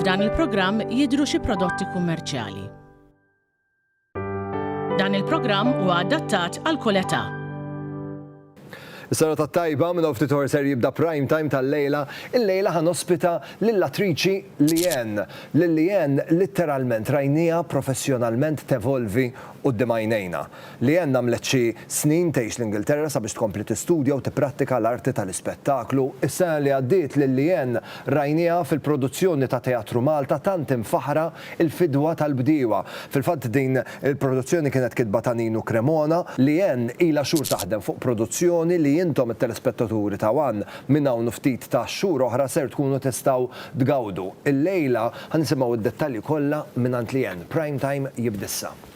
F'dan il-programm jidhru xi prodotti kummerċjali. Dan il-programm huwa adattat għal kull età. Is-sena tat-tajba minn ftit ħor ser jibda prime time tal-lejla, il-lejla ħan ospita lill-attriċi Lien. Lil Lien litteralment rajnija professjonalment tevolvi quddiem għajnejna. Leanne għamlet xi snin tgħix l-Ingilterra sabiex tkompli tistudja u tipprattika l-arti tal-ispettaklu. Is-sena li għaddiet lil Leanne rajnieha fil-produzzjoni ta' Teatru Malta tant imfaħħra, Il-Fidwa tal-Bdiewa. Fil-fatt din il-produzzjoni kienet kitba ta' Ninu Cremona. Leanne ilha xhur taħdem fuq produzzjoni li intom it-telespettaturi ta' one minn hawn u ftit ta' xhur oħra ser tkunu tistgħu tgawdu. Illejla ħa nisimgħu d-dettalji kollha mingħand Leanne. Prime Time jibda issa.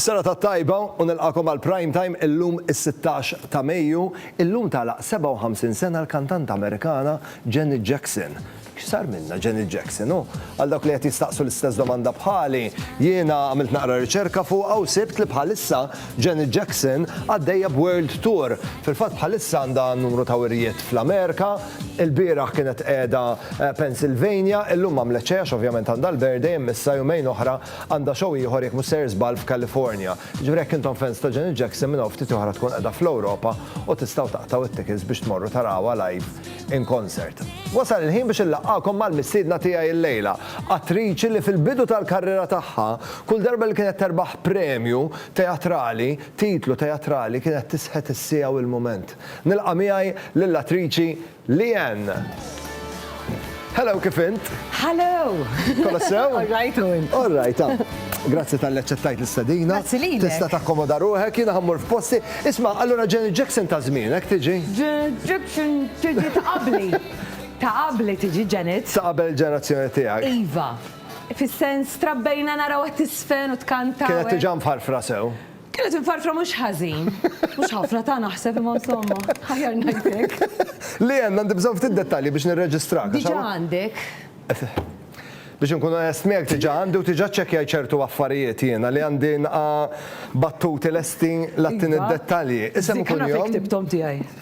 Sena ta' tajba u nilqakom għal prime time illum is-16 ta' Mejju, illum talaq 57 sena l-kantanta Amerikana Janet Jackson. X'sar minnha Janet Jackson? U għal dawk li qed jistaqsu l-istess domanda bħali, jiena għamilt naqra riċerka fuqha u sibt li bħalissa Janet Jackson għaddejja b'world tour. Fil-fatt bħalissa għandha numru ta' wirjiet fl-Amerika, ilbieraħ kienet qiegħda Pennsylvania, illum għamlet xejn għax ovvjament għandha l-birthday imma issa jumejn oħra għandha show ieħor jekk mhux sejjer żball f'California. Jiġifieri jekk intom fans ta' Janet Jackson minn hawn ftit oħra tkun qiegħda fl-Ewropa u tistgħu taqtgħu t-tickets biex tmorru tarawha live in Concert. Wasal il-ħin biex inlaqqagħkom mal-mistiedna tiegħi llejla, attriċi li fil-bidu tal-karriera tagħha, kull darba li kienet terbaħ premju teatrali, titlu teatrali, kienet tisħet is-siegħa u l-mument. Nilqa' miegħi lill-attriċi Leanne. Hello, kif int? Hello! Kollha sew? All right u int? All right, ah. Grazzi tal-li ċettajt l-istadina. Grazzi li. Tista takkomoda ruħek, jina ħammur f'posti. Isma, allora Janet Jackson ta' zmin, ek tiġi? Janet Tiġi ta' qabli. Ta' qabli tiġi Janet. Ta' qabel il-ġenerazzjoni tiegħek. Iva. Fis-sens trabbejna naraw għat-tisfen u tkanta u hekk. Kienet diġà mfarfra sew. Kienet imfarfra mhux ħażin. Mhux ħafna ta' naħseb imma insomma, aħjar ngħid hekk. Leanne, għandi bżonn ftit dettalji biex nirreġistrak. Diġà għandek. Biex inkun onest miegħek diġà għandi u diġà ċċekkjajt ċertu affarijiet jiena li għandi nqa' battuti lesti l-għattini dettalji. Isem u kunjom. Dik naf li ktibthom tiegħi.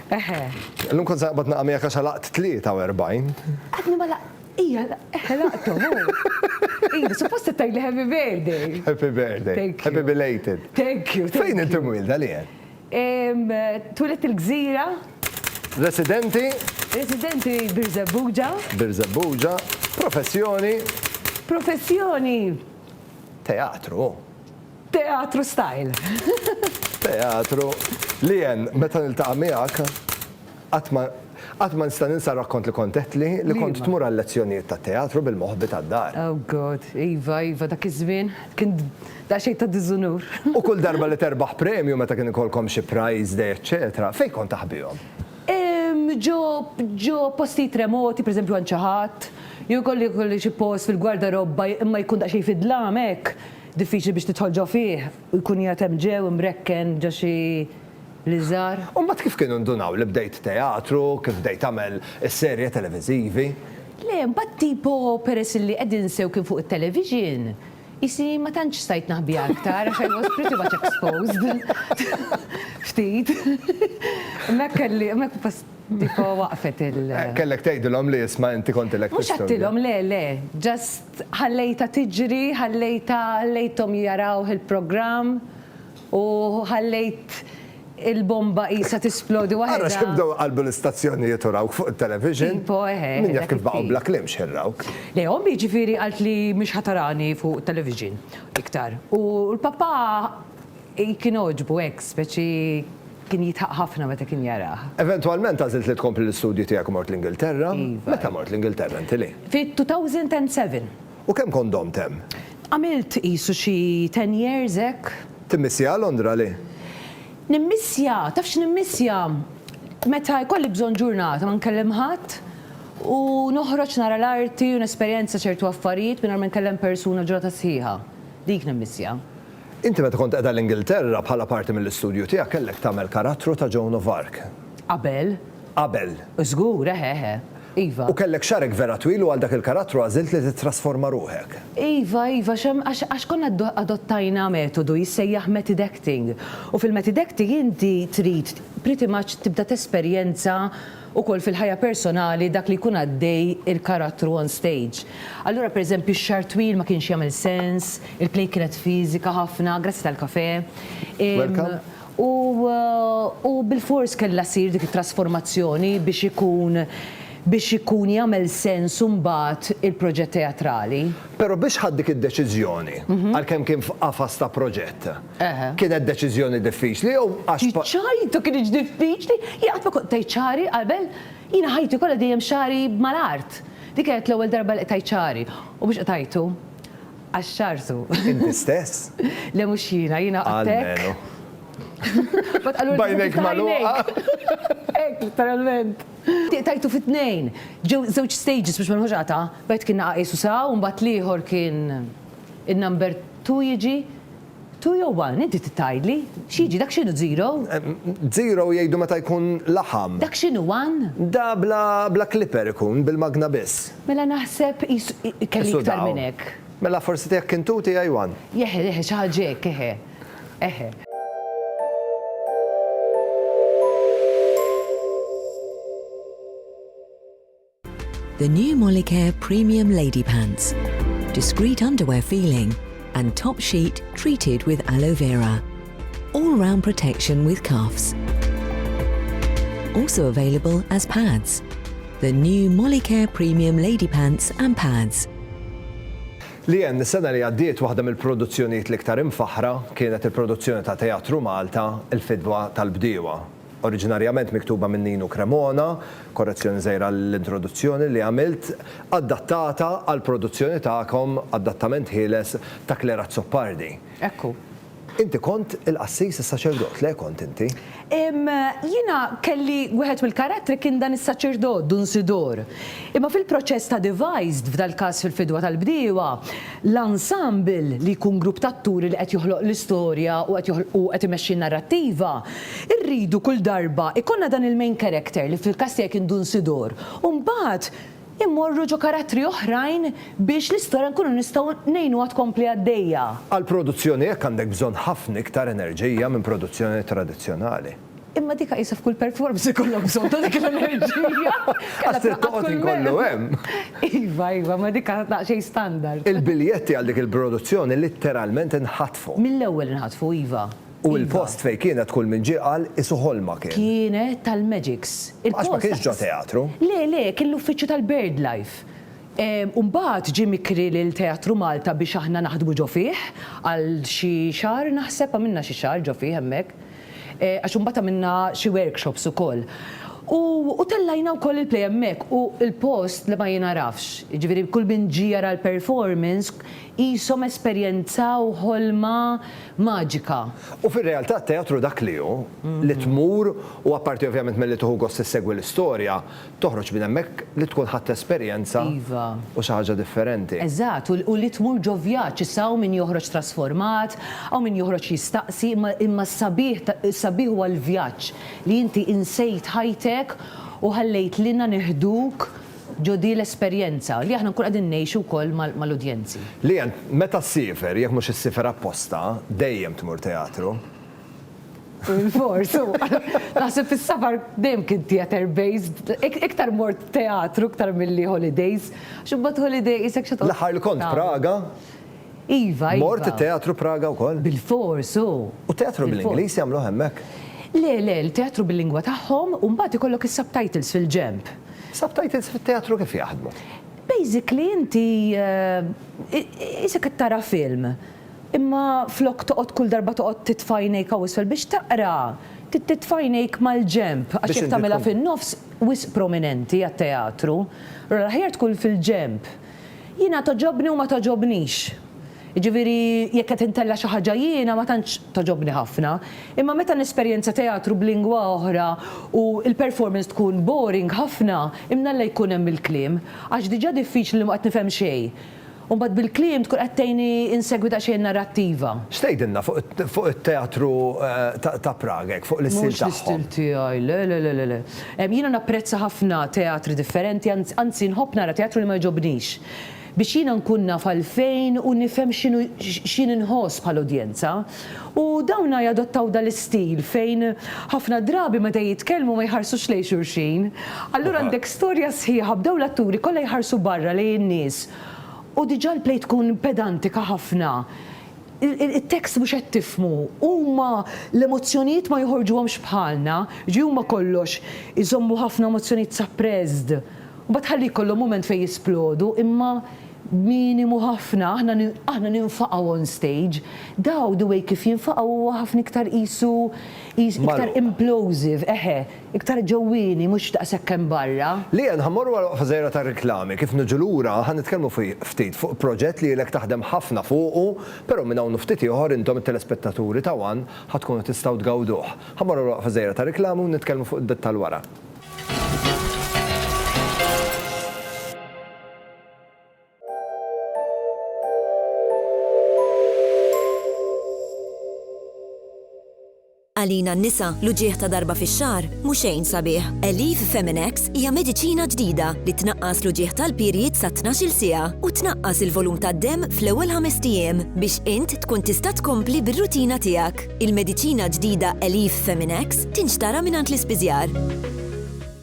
Eħe. Illum kont se naqbad naqa' miegħek għax għalaqt 43. Għadni ma laq. Ija, eħe laqtu. Ija, suppost se tgħidli happy birthday. Happy birthday. Thank you. Happy belated. Thank you. Fejn inti mwilda li hemm? Twilet il-Gżira. Residenti? Residenti Birżebbuġa. Birżebbuġa. Professjoni? Professjoni? Teatru. Teatru style! Teatru li Ann, meta niltaqa' miegħek qatt ma qatt ma nista' ninsa r-rakkont li kont għedtli li kont tmur għal-lezzjonijiet tat-teatru bil-moħbi tad-dar. Oh God, iva, iva, dak iż-żmien kien daqsxejn ta' diżunur. U kull darba li terbaħ premju, meta kien ikollkom xi prize day eċċetera, fejn kont taħbihom? Ehm, ġo ġo postijiet remoti, per eżempju għand xi ħadd, jew ikolli jkolli xi post fil-gwardarobba imma jkun daqsxejn fid-dlam hekk. Diffiċli biex tidħol ġo fih u jkun qiegħed hemm ġew imrekken ġo xi liżar. U mbagħad kif kienu ndunaw li bdejt teatru, kif bdejt tagħmel is-serje televiżivi? Le, mbagħad tipo peress li qegħdin sew kien fuq it-television, qisni ma tantx stajt naħbiha aktar għax I was pretty much exposed. Ftit. Hemmhekk kelli, hemmhekk bas tipo waqfet il. Kellek tgħidilhom li isma' inti kont ilek tistudja. Mhux għedtilhom, le, le, just. Ħallejtha tiġri, ħallejtha, ħallejthom jarawh il-programm u ħallejt il-bomba qisha tisplodi waħedha. Ara x'ħin bdew iqallbu l-istazzjonijiet u rawk fuq it-television. Tipo, eħe. Min jaf kif baqgħu bla kliem x'ħin rawk. Le, ommi jiġifieri qaltli mhix ħa tarani fuq it-television iktar u l-papà. Kien għoġbu hekk, speċi kien jidħaq ħafna meta kien jarah. Eventwalment għażilt li tkompli l-istudji tiegħek u mort l-Ingilterra. Meta mort l-Ingilterra inti, Lee? Fit-2007. U kemm kont domt hemm? Għamilt qisu xi ten years hekk. Timmissjaha Londra, Lee? Nimmissja, taf x'nimmissja? Meta jkolli bżonn ġurnata ma nkellem ħadd u noħroġ nara l-arti u nesperjenza ċertu affarijiet mingħajr ma nkellem persuna ġurnata sħiħa. Dik nimmissja. Inti meta kont qiegħda l-Ingilterra bħala parti mill-istudju tiegħek kellek tagħmel karattru ta' Joan of Arc. Qabel. Qabel. Żgur, eħe, eħe. Iva. U kellek xagħrek vera twil u għal dak il-karattru għażilt li tittrasforma ruħek. Iva, iva, għax għax konna adottajna metodu jissejjaħ method acting. U fil-method acting inti trid pretty much tibda tesperjenza ukoll fil-ħajja personali dak li jkun għaddej il-karattru on stage. Allura per eżempju x-xagħar twil ma kienx jagħmel sens, il-play kienet fiżika ħafna, grazzi tal-kafè, u bilfors kellha ssir dik it-trasformazzjoni biex ikun biex ikun jagħmel sens imbagħad il-proġett teatrali. Però biex ħadt dik id-deċiżjoni, għalkemm kien f'qafas ta' proġett? Kienet deċiżjoni diffiċli jew għax. Iċ-ċajta kinitx diffiċli? Jien qatt ma kont tajt xagħri qabel. Jiena ħajti kollha dejjem xagħri mal-art. Dik kienet l-ewwel darba li qtajt xagħri. U mhux qtajtu għax xagħartu. Inti stess? Le mhux jiena, jiena qatt hekk. Almenu. B'għajnejk magħluqa. Hekk, literalment. Qtajtu fi tnejn. Ġew żewġ stages biex ma nħux qatgħa. Wieħed kien naqa' qisu sraw u mbagħad l-ieħor kien In-number two jiġi two jew one? Inti trid tgħidli. X'jiġi? Dak x'inhu zero? Zero jgħidu meta jkun laħam. Dak x'inhu one? Da bla bla clipper ikun, bil-magna biss. Mela naħseb qis kelli iktar minn hekk. Sudaw. Mela forsi tiegħek kien two tiegħi one. Eħe eħe xi ħaġa hekk eħe. Eħe. The new Molicare Premium Lady Pants. Discreet underwear feeling and top sheet treated with aloe vera. All round protection with cuffs. Also available as pads. The new Molicare Premium Lady Pants and Pads. Leanne, is-sena li għaddiet waħda mill-produzzjonijiet l-iktar imfaħħra kienet il-produzzjoni ta' Teatru Malta, Il-Fidwa tal-Bdiewa. oriġinarjament miktuba minn Ninu Cremona, korrezzjoni żgħira għall-introduzzjoni li għamilt, adattata għall-produzzjoni tagħkom, adattament ħieles, ta' Claire Azzopardi. Hekk hu. Inti kont il-qassis, is-saċerdot, le kont inti? Jiena kelli, wieħed mill-karattri kien dan is-saċerdot, Dun Sidor. Imma fil-proċess ta' devised, f'dal-każ fil-fidwa tal-bdiewa, l-ensemble, li jkun grupp ta' atturi li qed joħloq l-istorja u qed joħloq u qed imexxi n-narrattiva, Irridu kull darba jkollna dan il-main character li fil-każ tiegħi kien Dun Sidor u mbagħad immorru ġo karattri oħrajn biex l-istorja nkunu nistgħu ngħinuha tkompli għaddejja. Għal produzzjoni hekk għandek bżonn ħafna iktar enerġija minn produzzjoni tradizzjonali. Imma dik qisha f'kull performance ikollok bżonn ta' dik l-enerġija. Għax trid toqgħod inkollu hemm. Iva, iva, ma dik għadha daqsxejn standard. Il-biljetti għal dik il-produzzjoni litteralment inħatfu. Mill-ewwel inħatfu, iva. U il-post fejn kienet kull min ġie qal qisu ħolma kien. Kienet tal-Magics. Għax ma kienx ġo teatru. Le, le, kien l-uffiċċju tal-Birdlife. U mbagħad ġie mikri lil Teatru Malta biex aħna naħdmu ġo fih għal xi xahar naħseb, għamilna xi xahar ġo fih hemmhekk. Għax imbagħad għamilna xi workshops ukoll. U u tellajna wkoll il-play hemmhekk u l-post le ma jinagħrafx. Jiġifieri kull min ġie jara l-performance, Qishom esperjenzaw ħolma maġika. U fir-realtà t-teatru dak li hu, li tmur u apparti ovvjament milli tieħu gost issegwi l-istorja, toħroġ minn hemmhekk li tkun ħadt esperjenza u xi ħaġa differenti. Eżatt, u li tmur ġo vjaġġ. Issa hawn min joħroġ trasformat, hawn min joħroġ jistaqsi, imma s-sabiħ, is-sabiħ huwa l-vjaġġ, li inti insejt ħajtek u ħallejt lilna neħduk, Ġo di l-esperjenza li aħna nkunu qegħdin ngħixu wkoll mal-udjenzi. Leanne, meta ssifer, jekk mhux issifer apposta, dejjem tmur teatru? Bilfors, u naħseb fis-safar dejjem kien theatre based. Iktar mort teatru iktar milli holidays, għax imbagħad holiday qisek xi toqgħod. L-aħħar li kont Praga, Iva, iva. Mort it-teatru Praga wkoll? Bilfors, hu. U t-teatru bl-Ingliż jagħmluh hemmhekk? Le, le, il-teatru bil-lingwa tagħhom u mbagħad ikollok is-subtitles fil-ġenb. Subtitles fit-teatru kif jaħdmu? Basically inti qisek qed tara film, imma flok toqgħod kull darba toqgħod titfa' għajnejk hawn isfel biex taqra, titfa' għajnejk mal-ġenb għax jekk tagħmilha fin-nofs wisq prominenti għat-teatru. Allura l-aħjar tkun fil-ġenb. Jiena togħġobni u ma togħġobnix. Jiġifieri jekk qed intella' xi ħaġa jiena ma tantx togħġobni ħafna. Imma meta nesperjenza teatru b'lingwa oħra u l-performance tkun boring ħafna, imnalla jkun hemm il-kliem. Għax diġà diffiċli li ma qed nifhem xejn. U mbagħad bil-kliem tkun qed tgħinni insegwi daqsxejn in-narrattiva. X'tgħidilna fuq it-teatru ta' Prague hekk fuq l-istil tagħhom? Mhux l-istil tiegħi, le le le le le. Jiena napprezza ħafna teatri differenti, anzi nħobb nara teatru li ma jogħġobnix, biex jiena nkun naf għalfejn u nifhem x'inhu x'jien inħoss bħala udjenza. U dawna jadottaw dan l-istil fejn ħafna drabi meta jitkellmu ma jħarsux lejn xulxin. Allura għandek storja sħiħa b'dawn l-atturi kollha jħarsu barra lejn in-nies u diġà l-play tkun pedantika ħafna. it-tekst mhux qed tifhmu, huma l-emozzjonijiet ma joħorġuhomx bħalna, jiġifieri huma kollox iżommu ħafna emozzjonijiet suppressed, u mbagħad ħalli jkollhom mument fejn jisplodu, imma minimu ħafna, aħna aħna ninfaqgħu on stage, daw the way kif jinfaqgħu huwa ħafna iktar qisu qis iktar implosive, eħe. Iktar ġewwieni, mhux daqshekk hemm barra. Leanne, ħa mmorru għal waqfa żgħira tar-riklami. Kif niġu lura, ħa nitkellmu ftit fuq proġett li ilek taħdem ħafna fuqu, però minn hawn u ftit ieħor intom it-telespettaturi ta' one ħa tkunu tistgħu tgawduh. Ħa mmorru għal waqfa żgħira tar-riklami u nitkellmu fuq id-dettall wara. Għalina n-nisa, l-uġigħ ta' darba fix-xahar mhu xejn sabiħ. Aleve Feminex hija mediċina ġdida li tnaqqas l-uġigħ tal-period sa tnax-il siegħa u tnaqqas il-volum tad-demm fl-ewwel ħamest ijiem biex int tkun tista' tkompli bir-rutina tiegħek. Il-mediċina ġdida Aleve Feminex tinxtara mingħand l-ispiżjar.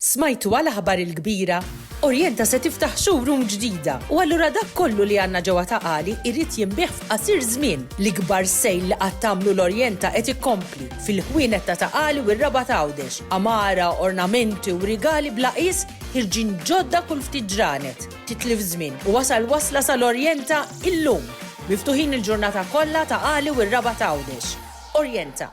Smajtuha l-aħbar il-kbira? Orienta se tiftaħ showroom ġdida u allura dak kollu li għandna ġewwa Ta' Qali jrid jinbiegħ f'qasir żmien. L-ikbar sale li qatt għamlu l-Orienta qed ikkompli, fil-ħwienet ta' Ta' Qali u r-Rabat Għawdex. Għamara, ornamenti u rigali bla qies ħirġin ġodda kull ftit ġranet. Titlif żmien u wasal wasla sal-Orienta illum! Miftuħin il-ġurnata kollha Ta' Qali u r-Rabat Għawdex. Orienta.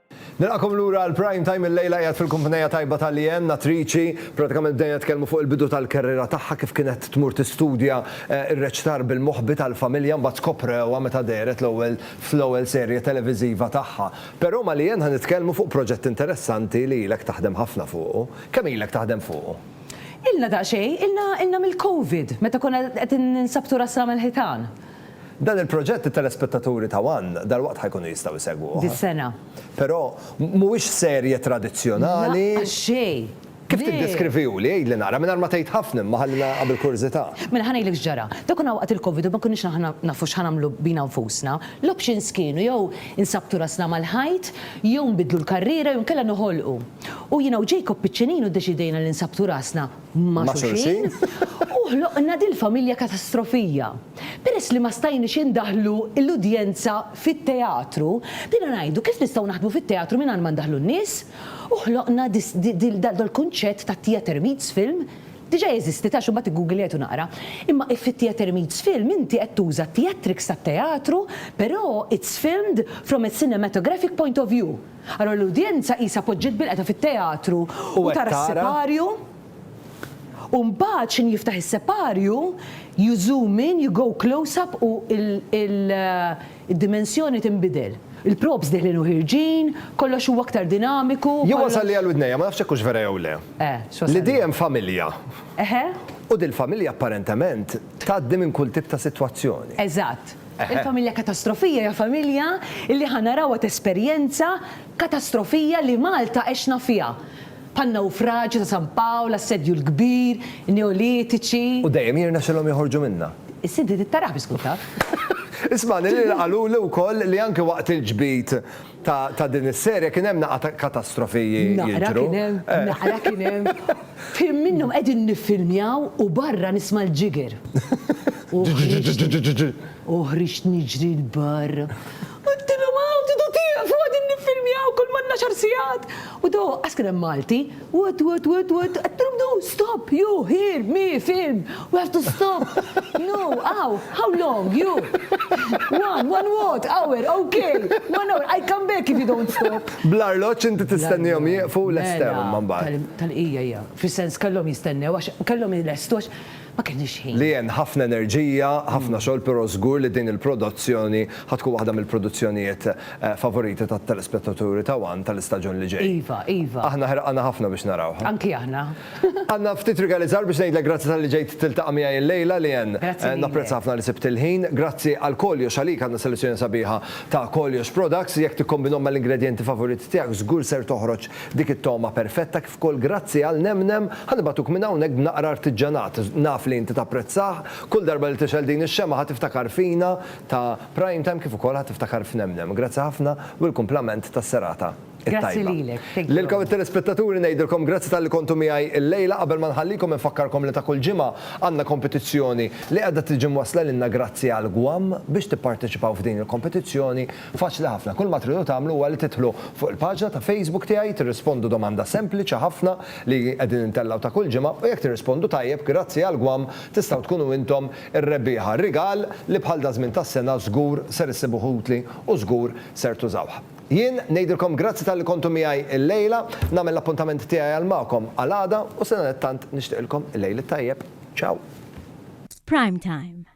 Nilqakom lura għal Prime Time illejla qiegħed fil-kumpnejja tajba ta' Leanne, nattriċi, pratikament bdejna nitkellmu fuq il-bidu tal-kerriera tagħha kif kienet tmur tistudja r-reċtar bil-moħbi tal-familja mbagħad skoprewha meta dehret l-ewwel fl-ewwel serje televiżiva tagħha. Però ma' Leanne ħa nitkellmu fuq proġett interessanti li ilek taħdem ħafna fuqu. Kemm ilek taħdem fuqu? Ilna daqsxejn, ilna ilna mill-Covid meta konna qed ninsabtu rasna mal-ħitan. Dan il-proġett it-telespettaturi ta' one dalwaqt ħa jkunu jistgħu jsegwuh. Dis-sena. Però mhuwiex serje tradizzjonali. Lanqas xejn! Le! Kif tiddeskriviehu li? Għidli naqra, mingħajr ma tgħid ħafna imma ħalli nagħlaq bil-kurżità. Mela ħa ngħidlek x'ġara. Dak konna waqt il-Covid u ma konniex aħna nafu x'ħa nagħmlu bina nfusna. L-options kienu jew insabtu rasna mal-ħajt, jew nbiddlu l-karriera jew inkella noħolqu. U jiena u Jacob piċċinin u ddeċidejna li nsabtu rasna ma' xulxin u ħloqna dil-familja katastrofija. Peress li ma stajniex indaħħlu l-udjenza fit-teatru, bdejna ngħidu kif nistgħu naħdmu fit-teatru mingħajr ma ndaħħlu n-nies u ħloqna dal-kunċett ta' theatre meets film, diġà jeżisti ta' x'imma tiggugilejtu naqra, imma if fit-theatre meets film inti qed tuża theatrics tat-teatru però it's filmed from a cinematographic point of view. Allura l-udjenza qisha poġġiet bilqgħetha fit-teatru u tara s-siparju u mbagħad x'inhi jiftaħ is-separju, you zoom in, you go close up u d-dimensjoni tinbidel. Il-props deħlin u ħierġin, kollox huwa aktar dinamiku. Jien wasalli għal widnejja, ma nafx jekk hux vera jew le. Li di hemm familja. U dil-familja apparentement tgħaddi minn kull tip ta' sitwazzjoni. Eżatt. Il-familja katastrofija hija familja li ħa narawha tesperjenza katastrofija li Malta għexna fiha, bħan-nawfraġju ta' San Pawl, l-Assedju l-Kbir, in-Neolitiċi. U dejjem jirnexxilhom joħorġu minnha. Issa inti trid taraha biex tkun taf. Isma' lil Lil qaluli wkoll li anke waqt il-ġbid ta' din is-serje kien hemm naqra katastrofi jidhru. Naqra kien hemm, naqra kien hemm. F'ħin minnhom qegħdin niffilmjaw u barra nisma' l-ġiger. U ħriġt niġri 'l barra u għedtilhom hawn tidu tieqfu qegħdin niffilmjaw kull mal-għaxar sigħat. U daw aqqas kien hemm Malti. What, what, what, what, qed nirdu, stop, you, here, me, film, we have to stop. No, how, how long, you? One, one what, hour, okay, one hour, I come back if you don't stop. Bl-arloċ inti tistennihom jieqfu l-estew mela, man bad. Tal-qija hija, fis-sens kellhom jistennew għax kellhom il-estu għax Ma kellniex ħin. Li hemm ħafna enerġija, ħafna xogħol, però żgur li din il-prodozzjoni ħa tkun waħda mill-produzzjonijiet favoriti tat-telespettaturi ta' one tal-istaġun li ġej. Iva, iva. Aħna ħerqana ħafna biex narawha. Anki aħna. Anna, ftit regalizzar biex ngħidlek grazzi talli ġejt tiltaqa' miegħi illejla, Leanne. Grazzi lilek. Napprezza ħafna li sibt il-ħin. Grazzi għal Koljox għalik, għandna selezzjoni sabiħa ta' Koljox Products. Jekk tikkombinhom mal-ingredjenti favoriti tiegħek żgur ser toħroġ dik it-togħma perfetta. B'kull grazzja għal Nemnem, ħa nibagħtuk minn hawnhekk b'naqra artiġġanat. Naf li inti tapprezzah. Kull darba li tixgħel din ix-xemgħa ħa tiftakar fina ta' Prime Time kif ukoll ħa tiftakar f'Nemnem. Grazzi ħafna u l-kumplament tas-serata t-tajba. Grazzi lilek. Thank you. Lilkom it-telespettaturi ngħidilkom grazzi talli kontu miegħi illejla. Qabel ma nħallikom infakkarkom li ta' kull ġimgħa għandna kompetizzjoni li qiegħda tiġi mwassla lilna grazzi għall-GWAM. Biex tipparteċipaw f'din il-kompetizzjoni Faċli ħafna, kull ma tridu tagħmlu huwa li tidħlu fuq il-paġna ta' Facebook tiegħi, tirrispondu domanda sempliċi ħafna li qegħdin intellgħu ta' kull ġimgħa u jekk tirrispondu tajjeb, grazzi għall-gwam, tistgħu tkunu intom ir-rebbieħa. Rigal li bħal daż-żmien tas-sena żgur ser issibuh utli u żgur ser tużawh. Jien ngħidilkom grazzi talli kontu miegħi llejla, nagħmel l-appuntament tiegħi għal magħkom għal għada u sadanittant nixtieqilkom il-lejl it-tajjeb. Ciao! F'Prime Time.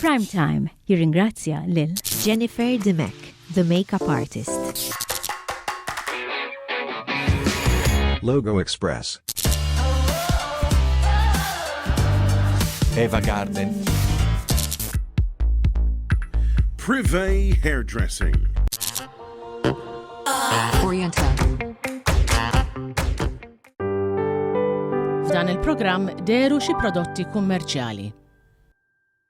Prime Time jirringrazzja lil Jennifer Dimech, the makeup artist. Logo Express. Eva Garden. Privé Hairdressing. Oriental. F'dan il-programm deru xi prodotti kummerċjali.